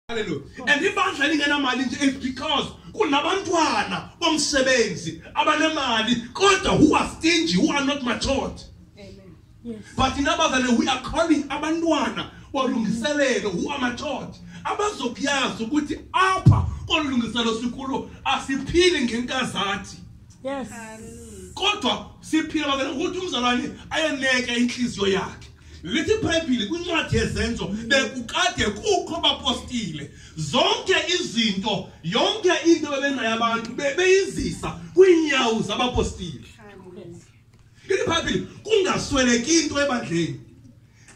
haleluya and ibandla lingenamali nje is because kunabantwana bomsebenzi abanemali kodwa who are stingy who are not matured but inabazane we are calling abantwana balungiselelo who are matured abazokuyazi ukuthi apha kolu lungiselo sikulo asiphili ngenkazathi yes kodwa siphila bakena ukuthi umzalwane ayeneke inhliziyo yakhe lithi ibhayibhile kwincwadi yezenzo bekukade kukho bapostile zonke izinto yonke into bebengayo abantu beyizisa kwiinyawo zabapostile ithi ibhayibhile kungasweleki into ebandleni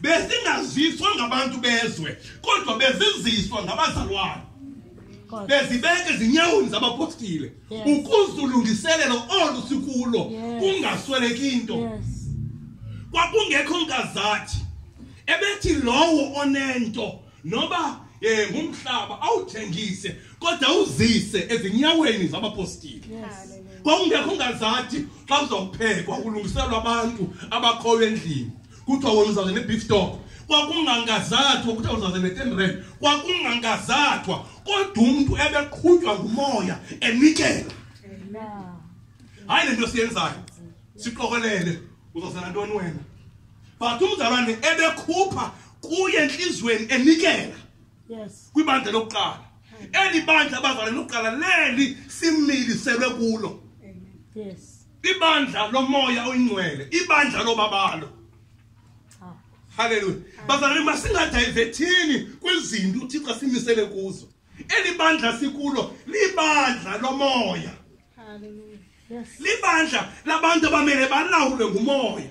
bezingaziswa ngabantu bezwe kodwa beziziswa ngabazalwane bezibeke ezinyawoni zabapostile ukuzulungiselela olu sikulo kungasweleki into kwakungekho nkazathi ebethi lowo onento noba eh ngumhlaba awuthengise kodwa uzise ezinyaweni zabapostile kwakungekho ngazathi xa kuzophekwa kulungiselwa abantu abakhoyo endlini kuthiwa wona uzawuze ne-beef talk kwakungangazathwa kuthiwa uzawuze ne-ten rand kwakungangazathwa kodwa umntu ebeqhutywa ngumoya enikela hayi le nto siyenzayo sixokolele uzawuzela ntoni wena but umzalwane ebekhupha kuye entliziyweni enikela kwibandla lokuqala eli bandla abazalwane lokuqala leli similiselwe kulo yes ibandla lomoya oyingcwele ibandla lobabalo haleluya bazalwane masingadayivethini kwizinto uthixo asimisele kuzo eli bandla sikulo libandla lomoya libandla labantu abamele balawulwe ngumoya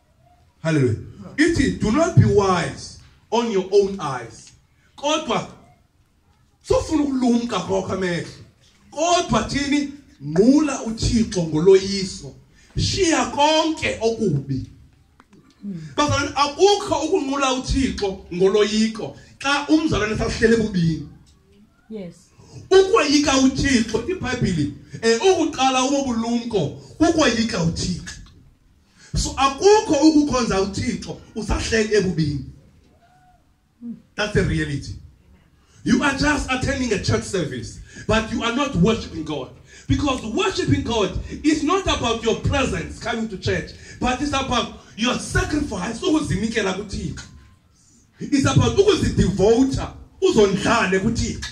Hallelujah. It is do not be wise on your own eyes. Kodwa sofuna ukulumka kwakho amehlo. Kodwa thini nqula uThixo ngoloyiso. Shiya konke okubi. Bazalwane akukho ukunqula uThixo ngoloyiko xa umzalwane sahlele bubini. Yes. Ukwayika uThixo iBhayibheli eh ukuqala ubulumko ukwayika uThixo. so akukho ukukhonza uthixo usahleli ebubini that's the reality you are just attending a church service but you are not worshiping god because worshiping god is not about your presence coming to church but it's about your sacrifice ukuzinikela kuthixo it's about ukuzidivota uzondlale kuthixo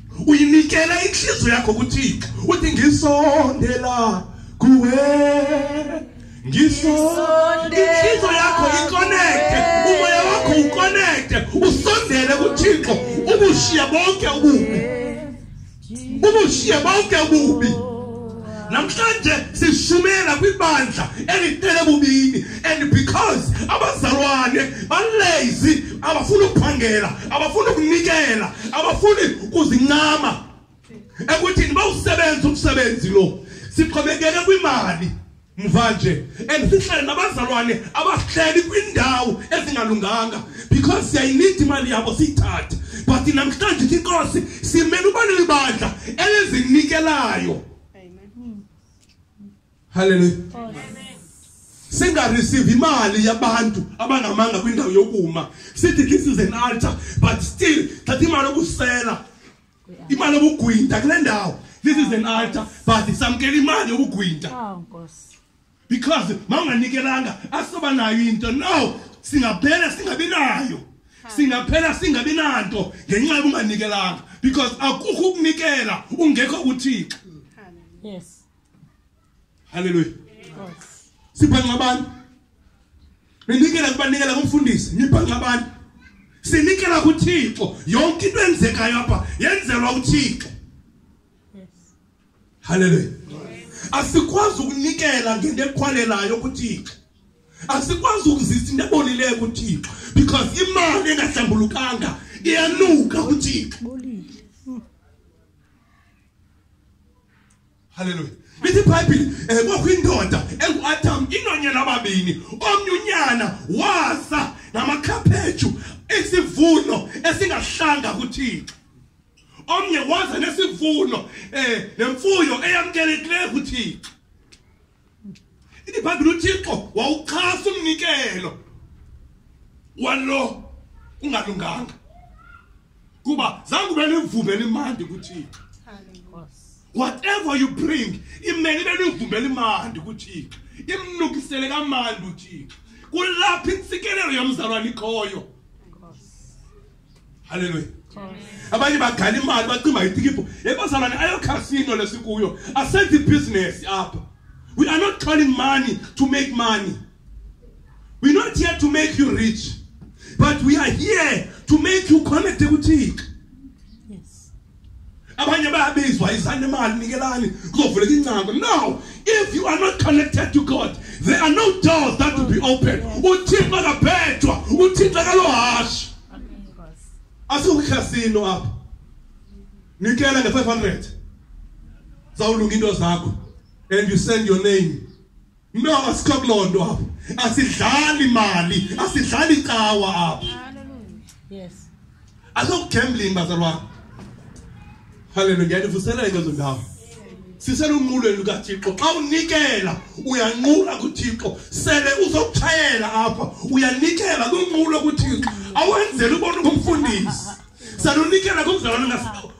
uyinikela inhliziyo yakho kuthixo uthi ngisondela kuwe ngisondela yakho iconnecte umoya wakho uconnecte usondele kuthixo ubushiya bonke ububi ubushiya bonke ububi namhlanje sishumayela kwibandla elitele bubini and because abazalwane balazy abafuni ukuphangela abafuni ukunikela abafuni ukuzincama ekuthini bawusebenza umsebenzi lo sixhomekeke kwimali mvanje and sihlale nabazalwane abasihleli kwiindawo ezingalunganga because siyayinida imali yabo siyithathe but namhlanje ithi inkosi simele uba nelibandla elizinikelayo halleluya singareceive imali yabantu abangamanga kwindawo yokuma sithi this is an altar but still thatha imali okusela imali yobugwinta kule ndawo this is an altar but samkela imali yobugwinta oh, nkosi because mawunganikelanga asoba nayo into no singaphela singabi nayo singaphela singabi nanto ngenxa yokunganikelanga because akukho ukunikela ungekho kuthixo yes haleluya sibhanqa abantu ninikela kubanikela kumfundisi nibhanqa abantu sinikela kuthixo yonke into enzekayo apha yenzelwa uthixo haleluya asikwazi ukunikela ngento ekhwalelayo kuthixo asikwazi ukuzisa into ebolileyo kuthixo because imali engahlambulukanga iyanuka kuthixo halleluya lithi ibhayibhile um eh, kwakho indoda engu-adam inonyana ababini omnye unyana waza namakhaphetshu isivuno esingahlanga kuthixo omnye waza nesivuno um nemfuyo eyamkelekileyo kuthixo ithi ibhayibhile uthixo wawuxhasa umnikelo walo ungalunganga kuba zange ube nemvumbe elimandi kuthixo whatever you bring imele ibe nemvumbe elimandi kuthixo imnukisele kamandi uthixo kulapho intsikelelo yomzalwane ikhoyo halleluya abanye bagala imali bacimba itikibho yebazalwane ayokhasino lesikuyo asenze ibhizinesi apha we are not calling money to make money we're not here to make you rich but we are here to make you connected kuthixo abanye bayabizwa yisani imali nikelani kuzovuleka ingcango no if you are not connected to god there are no doors that will be open uthixo akabhejwa uthixo akalohasha asiwukhasino apha nikela nge-500 zawulunga into zakho and you send your name no asikho kuloo nto apho asidlali mali asidlali cawa apho yes asokugambling bazalwana haleluya ndiyanivuselela into zondawo siselunqulweni lukathixo xa unikela uyanqula kuthixo sele uzokutshayela apha uyanikela kunqulo kuthixo awenzeli ubona kumfundisi salunikela kumzalwane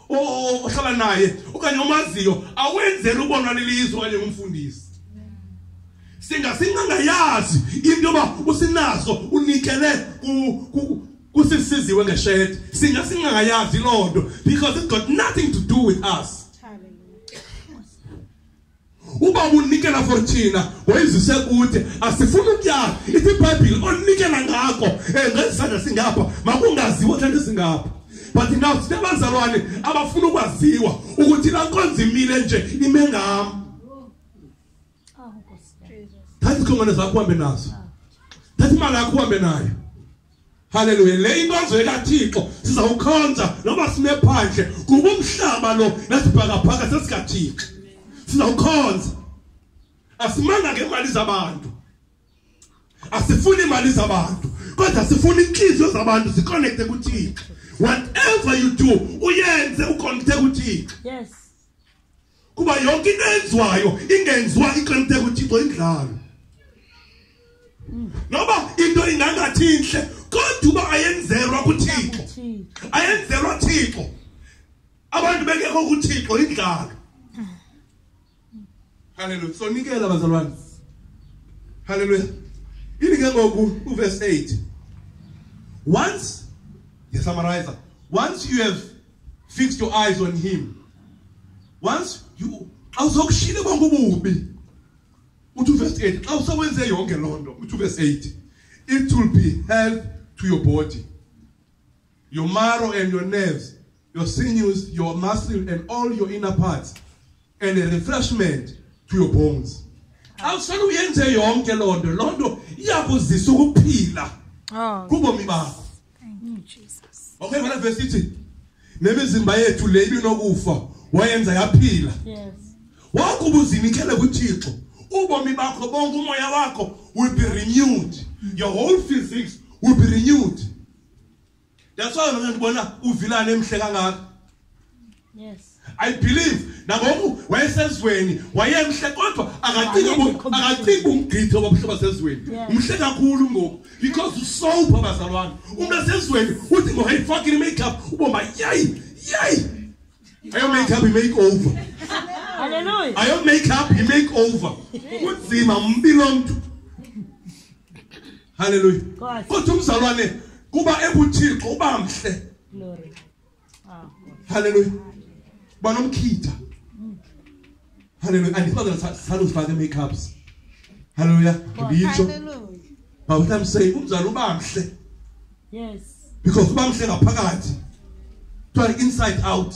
ohlala naye okanye omaziyo awenzeli ubonwa lilizwe okanye ngumfundisi singasingangayazi into yoba usinaso unikele kusisiziwe ngeshedi singasingangayazi loo nto because it got nothing to do with us uba unikela for thina wayizise kude asifuni ukuyazi ithi ibhayibhile onikela ngako eh, ngezisandla singapha makungaziwa thanda singapha but now sine bazalwane abafuna ukwaziwa ukuthi la nkonzo imile nje ime ngam thatha ikhongwane zakho uhambe nazo thatha imali yakho uhambe nayo Haleluya. Le into azwe kaThixo sizawukhonza noma sime phandle kuba umhlaba lo nasibhakaphaka sesikaThixo. Sizawukhonza. Asimanga ngemali zabantu. Asifuni imali zabantu. Kodwa sifuna inhliziyo zabantu ziconnecte kuThixo. Whatever you do, uyenze uconnecte kuThixo. Yes. kuba yonke into enziwayo ingenziwa ixemte kuthixo indlalo noba into ingangathi intle kodwa uba ayenzelwa kuthixo ayenzelwa thixo abantu bengekho kuthixo indlalo haleluya sonikela bazalwane haleluya ini ke ngoku uverse 8 once ndiyasummarizer once you have fix your eyes on him once you xa usokushile bonke ububi uthi uverse 8 xa usewenze yonke loo nto uthi uverse 8 it will be health to your body your marrow and your nerves your sinews your muscle and all your inner parts and a refreshment to your bones xa usele uyenze yonke loo nto loo nto iyakuzisa ukuphila kubomi bakho Okay, ngala verse ithi nemizimba yethu le ibinokufa wayenza yaphila. Yes. Wakuba uzinikele kuThixo, ubomi bakho bonke umoya wakho will be renewed. Your whole physics will be renewed. That's why ngibona uvilana emhle kangaka. Yes. I believe nangoku wayesezweni wayemhle kodwa akacingi akacingi umgqitho wabuhlobo sezweni umhle kakhulu ngoku because usober bazalwane umuntu asezweni uthi ngohayifaki i-makeup ubomba yayi yayi ayo makeup i-make over Hallelujah. Ayo make up, he make over. Kunzima umbilo mntu. Hallelujah. Kodwa umzalwane kuba ebuthixo uba mhle. Glory. haleluya banomkhitha haleluya andifazel saluzifaka i-makeups haleluya nditsho but what i'm saying umzali uba mhle yes because uba mhle ngaphakathi kuthiwa inside out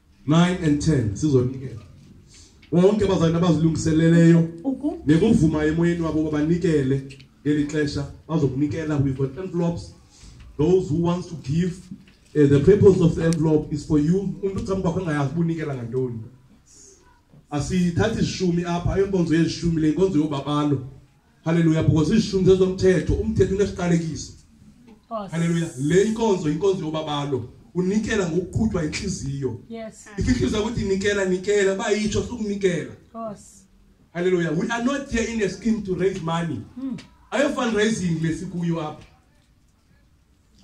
9 and 10 sizonikela wonke abazali abazilungiseleleyo nekuvuma emoyeni wabo babanikele ngeli xesha bazokunikela we've got envelopes those who wants to give uh, the purpose of the envelope is for you umuntu ucama kwakho engayazi ubunikela ngantoni asithathi ishumi apha ayonkonzo yeshumi le nkonzo yobabalo haleluya because izishumi zezomthetho umthetho unesiqalekiso haleluya le inkonzo inkonzo yobabalo unikela ngokuqhutywa inhliziyo yes inhliziyo ukuthi inikela nikela bayitsho sukunikela haleluya we are not here in a scheme to raise money hmm. ayo fundraising lesikuyo apha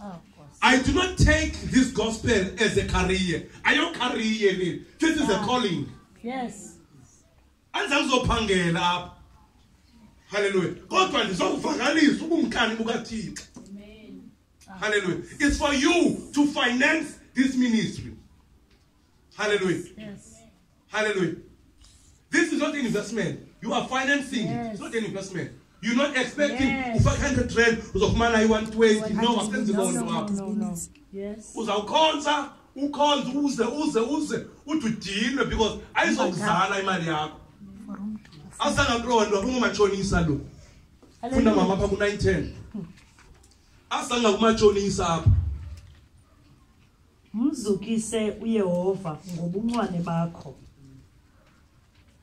oh, I do not take this gospel as a career. I don't career it. This is a ah. calling. Yes. andizange uzophangela apha halleluya kodwa ndizawuvakalisa ubumkani bukathixo halleluya it's for you to finance this ministry halleluya yes. halleluya this is not an investment you are financing yes. it's not an investment You're not expecting Yes. ufake 100 rand uzofumana i-120 no asenzi loo nto apho No, no. Yes. uzawukhonza ukhonze uze uze uze ude udinwe because ayizokuzala imali yakho asangaqondwa kungumatshonisa lo funda mama apha ku-nine ten asanga kumatshonisa apha Mzukise uYehova ngobuncwane bakho.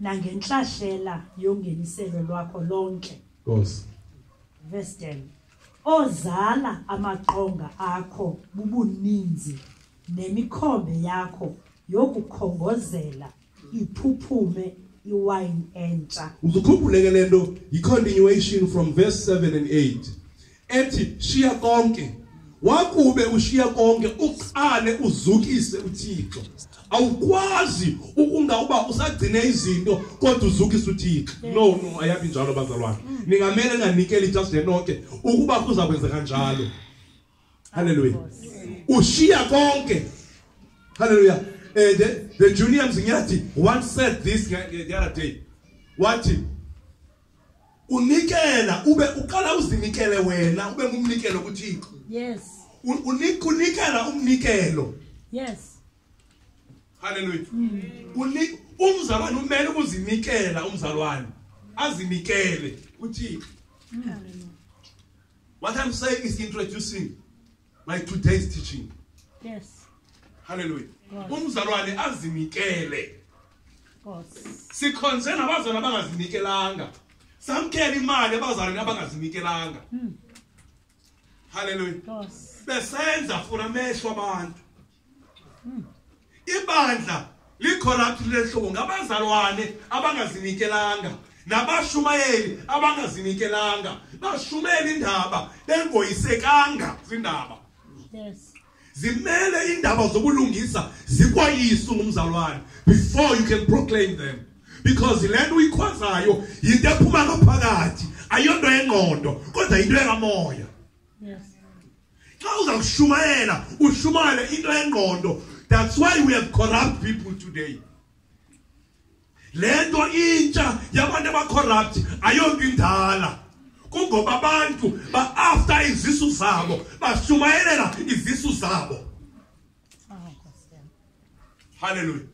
nangentlahlela yongeniselo lwakho lonke nkosi verse 10 ozala amaqonga akho bubuninzi nemikhombe yakho yokukhongozela iphuphume iwayini entsha uzukhumbuleke le nto yi-continuation from verse 7 and 8 ethi shiya konke wakube ushiya konke uqale uzukise uThixo awukwazi ukungawuba usagcine izinto kodwa uzukise uThixo no no ayabi njalo bazalwane ningamele nganikeli just lenonke ukuba kuza kwenzeka njalo haleluya ushiya konke haleluya eh the, the junior mzinyathi once said this the other day wathi unikela ube uqala uzinikele wena ube ngumnikelo kuthixo yes unikela umnikelo yes haleluya mm. umzalwane umele ukuzinikela umzalwane azinikele kuthixo mm. what i'm saying is introducing my today's teaching yes haleluya umzalwane azinikele sikhonze nabazalwane abangazinikelanga samkela imali abazalwane abangazinikelanga hmm. haleluya besenza funa amehlo abantu ibandla licorrupt lehlobo ngabazalwane abangazinikelanga nabashumayeli abangazinikelanga bashumela indaba bengoyisekanga zindaba yes zimele indaba zobulungisa zikwayisu ngumzalwane before you can proclaim them because le nto uyikhwazayo yinto ephuma ngaphakathi ayonto yengqondo kodwa yinto yekamoya yes xa uzawushumayela ushumayele into engqondo that's why we have corrupt people today le nto intsha yabantu abacorrupt ayonto indala kungoba abantu ba-after izisu zabo bashumayelela izisu zabo halleluya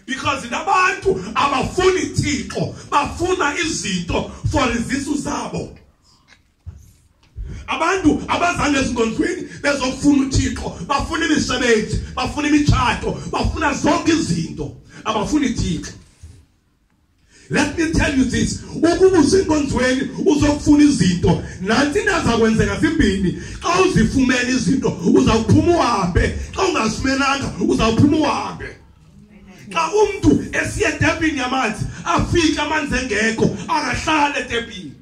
because nabantu abafuni thixo bafuna izinto for izisu zabo abantu abazanga ezinkonzweni bezofuna uthixo bafuna imisebenzi bafuna imitshato bafuna zonke izinto abafuni thixo let me tell you this ukuba usenkonzweni uzokufuna izinto nanti nazakwenzeka zimbini xa uzifumene izinto uzawuphuma uhambe xa ungazifumenanga uzawuphuma uhambe xa umntu esiye etepini yamanzi afike amanzi engekho akahlale etepini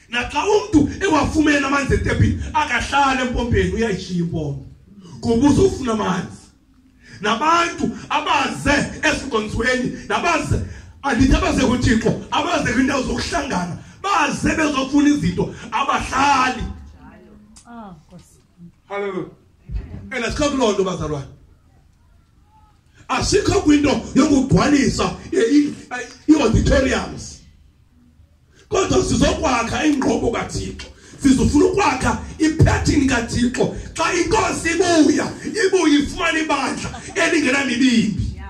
naxa umntu ewafumene amanzi etepini akahlale empompeni uyayishiya impompo kuba uzofuna amanzi nabantu abaze ezinkonzweni nabaze andithi abaze kuthixo abaze kwiindawo zokuhlangana baze bezofuna izinto abahlali ah, halleluya and asikakuloo nto bazalwane asikho kwinto yokugcwalisa i-auditoriums kodwa sizokwakha ingqobo kathixo sizofuna ukwakha iphethini kathixo xa inkosi ibuya ibuye ifumane ibandla elingenamibimbi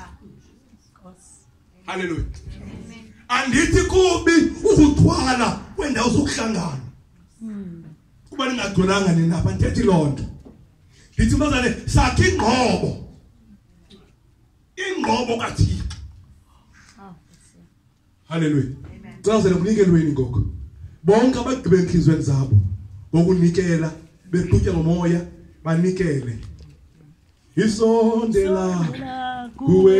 halleluya andithi kubi ukuthwala kwendawo zokuhlangana kuba ningagculanga nina apha ndithethi loo nto ndithi mntazane sakhe ingqobo ingqobo kathixo halleluya cazela kunikelweni ngoku bonke abagqibe entliziyweni zabo ngokunikela bequtya ngomoya banikele isondela kuwe